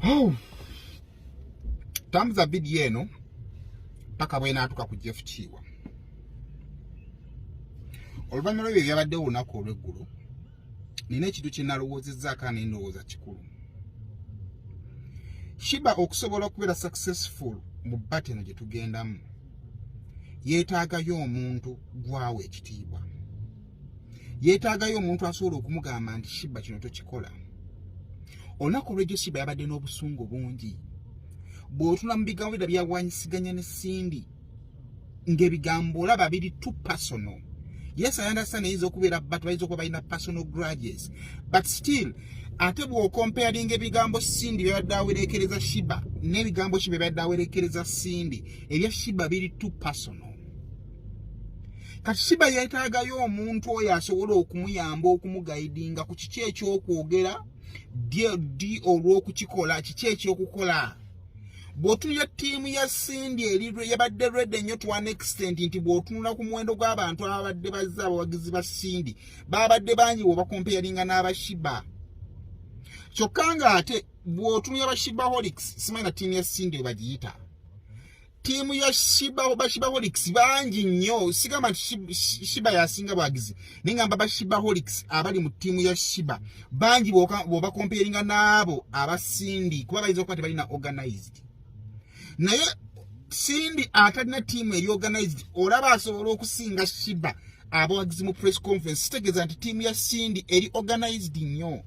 Oh. Tambuza video eno paka bwena atuka ku Jeff Chiwa. Oluvanyuma lwebyo byabadde olunaku olweggulo, nina ekintu kye nalowoozezzaako ane ndowooza kikulu. Shiba okusobola okubeera successful mu bata eno gye tugendamu yeetaagayo omuntu gwawo ekitiibwa. yeetaagayo omuntu asobola okumugamba nti shiba kino tokikola olunaku olwejjo shiba yabadde n'obusungu bungi bw'otula mu bigambo bira byawanyisiganya ne sindi ng'ebigambo olaba biri tu personal yes i understand eyinza okubeera but bayinza okuba balina personal grudges but still ate bw'okomparinga ebigambo sindi byabadde awerekereza shiba n'ebigambo shiba byabadde awerekereza sindi ebya shiba biri tu personal kati shiba yetaagayo omuntu oyo asobola okumuyamba okumugaidinga ku kiki ekyokwogera ddi olwokukikola kiki ekyokukola bwotunira ttiimu ya sindi eri yabadde redi ennyo to an extent nti bwotunula ku muwendo gw'abantu ababadde bazze abawagizi ba sindi babadde bangi bwebakompeyaringa n'abashiba kyokka ng'ate bwotunira bashibaholics simanyi na ttiimu ya sindi webagiyita tiimu ya shiba bashibaholics bangi nnyo sigamba nti shiba yasinga bwagizi naye ngamba bashibaholics abali mu tiimu ya shiba bangi bwobakomperinga n'abo abasindi kuba bayinza okuba tebalina organized naye sindi atalina tiimu eri organized olaba asobola okusinga shiba abawagizi mu press conference kitegeeza nti tiimu ya sindi eri organized nnyo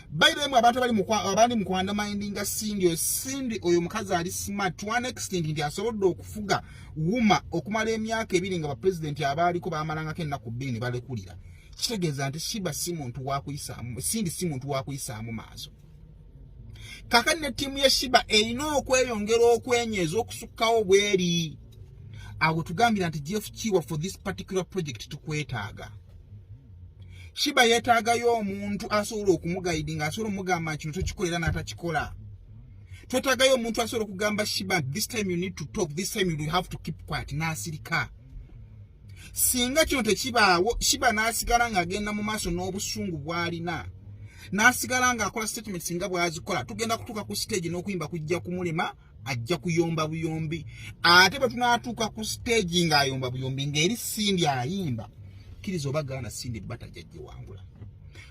by the way abantu abali mu abandi mu kwanda minding a sindi oyo sindi oyo mukazi ali smart to an extent nti asobodde okufuga wuma okumala emyaka ebiri nga ba president abaaliko bamalanga kenna ku bini balekulira kitegeeza nti shiba si muntu wakuyisaamu sindi si muntu wakuyisaamu maaso kakati ne tiimu ya shiba erina okweyongera okwenyeza okusukkawo bweri awo tugambira nti jeff kiwa for this particular project tukwetaaga shiba yetaagayo omuntu asobola okumugayidi nga asobola omugamba kino tokikolera n'atakikola twetaagayo omuntu asobola okugamba shiba this time you need to talk this time you have to keep quiet n'asirika singa kino tekibaawo shiba n'asigala ng'agenda mu maaso n'obusungu bw'alina n'asigala ng'akola statements nga bw'azikola tugenda kutuuka ku siteegi n'okuyimba kujja kumulema ajja kuyomba buyombi ate bwe tunaatuuka ku siteegi ng'ayomba buyombi ng'eri sindi ayimba kkiriza oba gaana sindi bata jajjewangula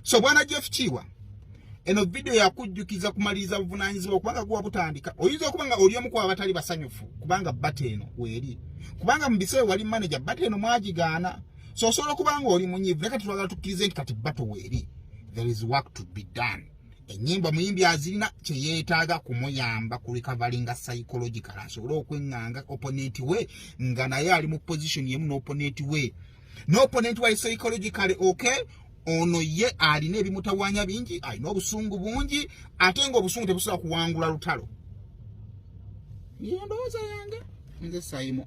so bwana jeff kiwa eno vidiyo yakujjukiza kumaliriza buvunaanyizibwa kubanga guba butandika oyinza okuba nga oli omu ku abatali basanyufu kubanga bata eno weeri kubanga mu biseera wali maneja bata eno mwagigaana so osobola okuba nga oli munyivu naye kati twagala tukkirize nti kati bato weeri there is work to be done enyimba omuyimbi azirina kyeyetaaga kumuyamba ku recoveringa psychological asobole okwenganga opponent we nga naye ali mu position yemu n'opponent we n'opponent wa psychological okay ono ye alina ebimutawanya bingi alina obusungu bungi ate nga obusungu tebusobola kuwangula lutalo yendowooza yange nze sayimu